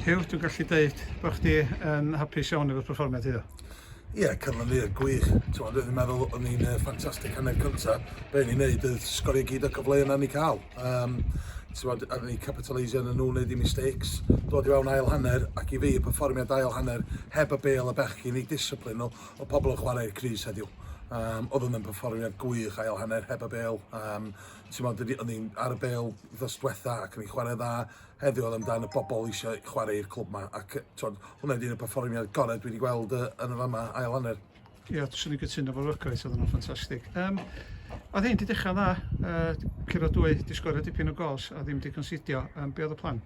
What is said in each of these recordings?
Huw, dwi'n gallu deud bod chdi yn hapus iawn efo'r perfformiad iddo. Ie, yeah, cyfle fi, gwych. Ti'n meddwl, meddwl o'n i'n uh, ffantastig hanner cynta. Be ni'n neud oedd sgorio gyd o cyfle yna ni cael. Um, ti'n meddwl, ar ni capitalisio yn nhw wneud i mistakes. Dod i fewn ail hanner, ac i fi, y perfformiad ail hanner, heb y bel y bechgyn i disciplin nhw, o pobl yn chwarae'r Cris heddiw. Um, oedd yn perfformiad gwych ail hanner heb y bel. Um, ti'n meddwl, o'n i'n ar y bel ddos diwetha ac o'n i'n chwarae dda. Heddiw oedd amdan y bobl eisiau chwarae i'r clwb yma ac twod, hwnna ydy'r perfformiad gorau dwi wedi gweld uh, yn y fama ail hanner. Ie, yeah, swn i'n gytuno fo'r Rygaeth, oedd yna'n ffantastig. Um, oedd hyn di dechrau'n dda, uh, curo dwy, di sgorio dipyn o gols a ddim di considio. Um, be oedd y plan?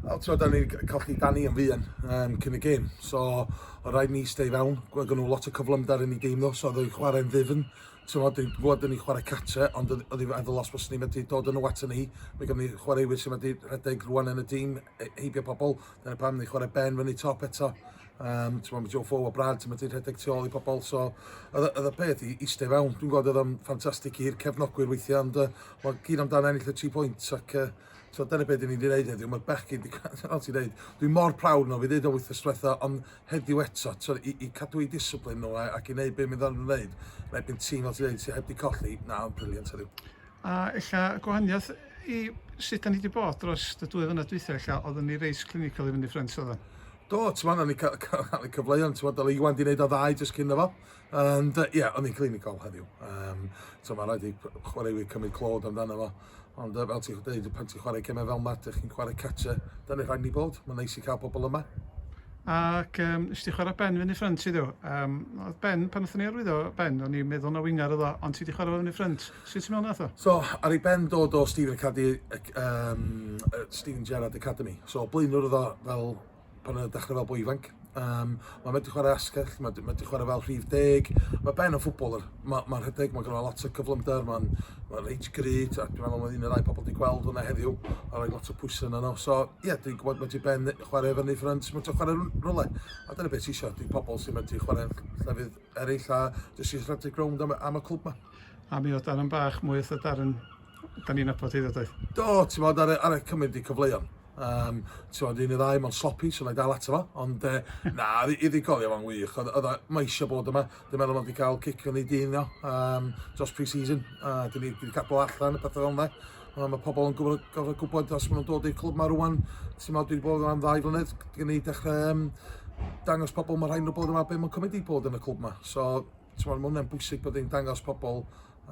O, tro, da ni colli Dani yn fuan um, cyn y gêm. So, o rhaid ni stay fewn. Gwag nhw lot o cyflymder yn ei dîm nhw, so oedd o'i chwarae'n ddifn. t'mod dwi'n gwbod 'dyn ni'n chware cartre ond odd odd 'i feddwl os fyswn i medru dod â nhw aton ni mae gynno ni chwaraewyr sy'n medru rhedeg rwan yn y tîm e- heibio pobl dyna pam ni'n chware Ben fyny top eto um, t'mod mae Joe Fo o Brad sy'n medru rhedeg tu ôl i pobl so oedd y- oedd y peth i eistedd fewn dwi'n gwybod oedd o'n ffantastig i'r cefnogwyr weithiau ond uh, mae gyd amdano ennill y 3 pwynt ac uh, so dyna beth dyn ni wedi gwneud heddiw mae'r bechgyn wedi gwneud ti'n dweud dwi'n mor prawd nhw fi ddeud o wythnos diwetha ond heddiw eto t'o' i i cadw'u discipline nhw a ac i wneud be' mi ddaru nhw wneud yn erbyn tîm fel ti'n ddeud sy' heb 'di colli na oedd o'n brilliant heddiw. A ella y gwahaniaeth i sut 'da ni 'di bod dros y dwy flynedd dwytha ella oeddwn ni reit clinical i fyny ffrynt oeddwn? Do t'mo' o'n ni ca- ca- cael y cyfleon t'mod o' Iwan 'di neud o dda i jyst cyn iddo fo Ond ie, yeah, o'n i'n clinigol heddiw. Um, so mae'n rhaid i chwaraewyr cymryd clod amdano fo. Ond fel ti'n dweud, pan ti'n chwarae cymau fel yma, ydych chi'n chwarae catcher, da ni'n rhaid ni bod. Mae'n neis i cael pobl yma. Ac um, nes ti chwarae Ben fyny ffrynt i ddiw. Um, oedd Ben, pan oeddwn ni arwyddo Ben, o'n i'n meddwl na wingar oedd o, ond ti wedi chwarae fyny ffrynt. Sut ti'n meddwl nath o? So, ar ei Ben dod o Stephen, Academy, um, Stephen Gerrard Academy. So, blaenwr oedd o fel pan o'n i'n dechrau fel boi ifanc. Um, mae wedi chwarae asgell, mae wedi chwarae fel rhif deg. Mae Ben yn ffwbol, mae'n ma rhedeg, mae gyda lot o cyflymder, mae'n ma reit grid, a dwi'n meddwl mae un o'r rhai pobl wedi gweld hwnna heddiw, a rhoi lot o pwysau yna nhw. So, ie, yeah, dwi'n gwybod mae wedi Ben chwarae fyny ffrynt, mae wedi chwarae rhywle. A dyna beth eisiau, dwi'n pobl sy'n wedi chwarae llefydd eraill, a jyst eisiau rhedeg rownd am, am y clwb yma. A mi oedd Darren bach mwy eitha Darren da ni'n nabod hefyd doedd? Do, ti'n bod, ar, ar y cymryd i cyfleuon. Um, ti'n bod, un i ddau, mae'n sloppy, so na i dal ato fo. Ond, e, na, i ddigolio fo'n wych. Oedd e, mae eisiau bod yma. Dwi'n meddwl bod wedi cael cic yn ei dyn, no, um, dros pre-season. Uh, Dwi'n ni wedi cadw allan y pethau fel yna. Um, mae pobl yn gwybod, gofod gwybod os maen nhw'n dod i'r clwb mae rwan. Ti'n bod, dwi'n bod yma'n ddau flynedd. Dwi'n ni dechrau um, dangos pobl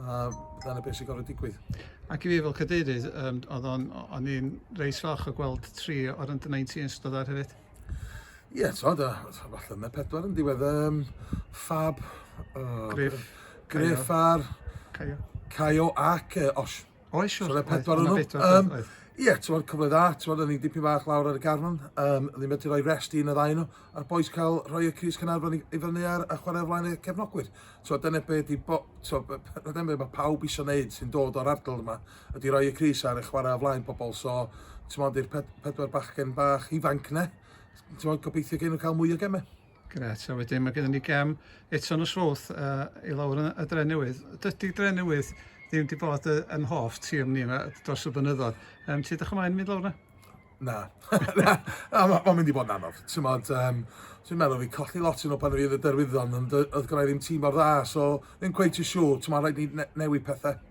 A dyna beth sy'n gorfod digwydd. Ac i fi fel cadeirydd, um, oedd o'n, o'n i'n reis falch o gweld tri o'r under 19 yn stod ar hefyd. Ie, yeah, so, da, falle mae pedwar yn diwedd. Um, Fab, uh, Griff, Griff ar Caio. Caio ac uh, Osh. Oes, siwr. So, na pedwar o'n nhw. Um, Ie, ti'n fawr cyfle dda, ti'n fawr, o'n i'n dipyn bach lawr ar y garfan, um, ddim wedi rhoi rest i un o ddau nhw, a'r boes cael rhoi y Cris Cynarfon i, i fyny ar, a chwarae flaen y cefnogwyr. So, dyna beth di, bo, so, dyna beth mae pawb eisiau gwneud sy'n dod o'r ardal yma, ydy rhoi y Cris ar y chwarae o flaen pobl, so, ti'n fawr, i'r ped, pedwar bachgen bach ifanc ne, ti'n fawr, gobeithio gen nhw cael mwy o gemau. Grêt, a wedyn mae gennym ni gem eto nos Fowrth uh, i lawr yn y Dre Newydd. Dydy Dre Newydd ddim wedi bod uh, yn hoff tîm ni yma dros y blynyddoedd. Um, ti ddechrau maen mynd lawr yna? Na. na, na mae'n mynd i bod yn anodd. Ti'n modd, um, ti'n meddwl fi colli lot yn o pan oedd y derwyddon, ond oedd gyda ddim tîm o'r dda, so ddim cweith i siw, ti'n modd rhaid ni ne newid pethau.